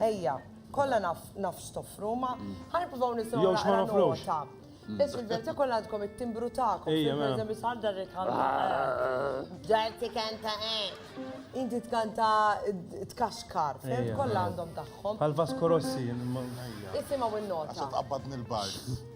Ejja, kollha naf naf x'toffru, ma ħa nippruvaw nisimgħu Jew x'ma naqra nofrux. nota. Biss fil-verità kollha għandkom it-timbru tagħkom. Ejja, mela. Pereżempju sal dar il-kamra. Dar tikanta hekk. Inti tkanta tkaxkar, fimt? Ejja, Kollha mela. għandhom tagħhom. Bħal Vasco Rossi. Ejja. Isimgħu Għax n-nota. tqabbadni l-bajħ.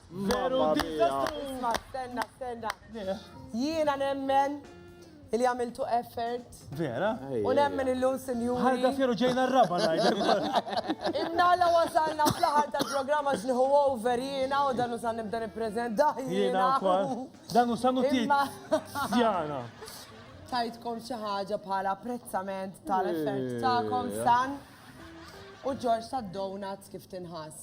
Veru diżastru! Isma' stenna, stenna. Jiena nemmen li għamiltu effort. Vera? U nemmen illum sinjuri. Ħarga fjeru ġejna r-raba ngħidlek. Imnalla wasalna fl-aħħar tal-programma x'niħu over jiena u dan usan nibda nippreżenta jiena. Dan usan u tit. Sjana. Tajtkom xi ħaġa bħala apprezzament tal-effort tagħkom san u Ġorġ tad-donuts kif tinħass.